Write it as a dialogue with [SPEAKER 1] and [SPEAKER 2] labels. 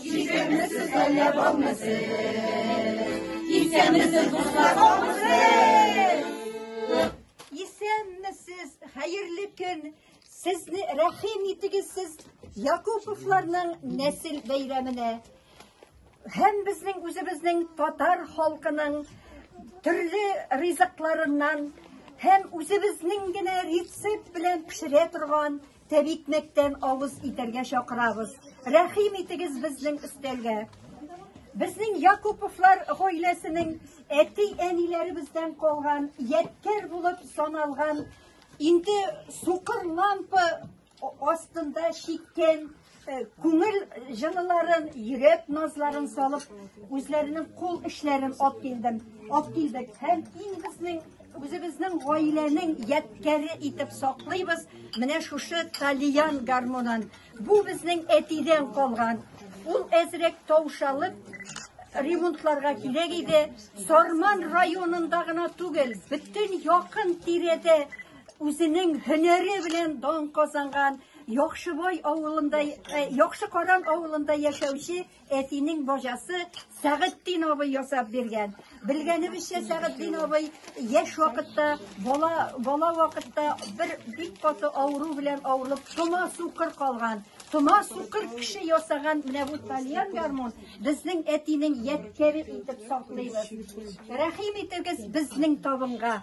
[SPEAKER 1] Исәнмесез, әллә бармысыз? Исәнмесез, дуслар, бармысыз?
[SPEAKER 2] Исәнмесез, хәерле көн. Сезне рәхим итегез сез Якуповларның нәсел бәйрәменә. Һәм безнең үзебезнең татар халкының төрле ризыкларыннан һәм үзебезнең генә рецепт белән пешерә торган Тәбикмәктән авыз итәргә чакырабыз. Рәхим итегез безнең өстәлгә. Безнең Якуповлар гаиләсенең әти-әниләребездән калган, яткәр булып саналган, инде сукыр лампа астында чиккән Э, күңел җылыларын, йөрәк назларын салып, үзләренең кул эшләрен ап килдем, ап килдек. Һәм иң безнең үзебезнең гаиләнең ядкәре итеп саклыйбыз менә шушы талиян гармонын. Бу безнең әтидән калган. Ул әзрәк таушалып ремонтларга кирәк иде. Сарман районында гына түгел, бөтен якын тирәдә үзенең һөнәре белән дан казанган Яхшыбай авылында, э, Яхшыкаран авылында яшәүче әтинең бажасы Сәгыттин абый ясап биргән. Белгәнебезчә, Сәгыттин абый яшь вакытта, бала бала вакытта бер бик каты авыру белән авырып, тома сукыр калган. Тома сукыр кеше ясаган менә бу тальян гармон безнең әтинең ядкәре итеп саклыйбыз. Рәхим итегез безнең табынга.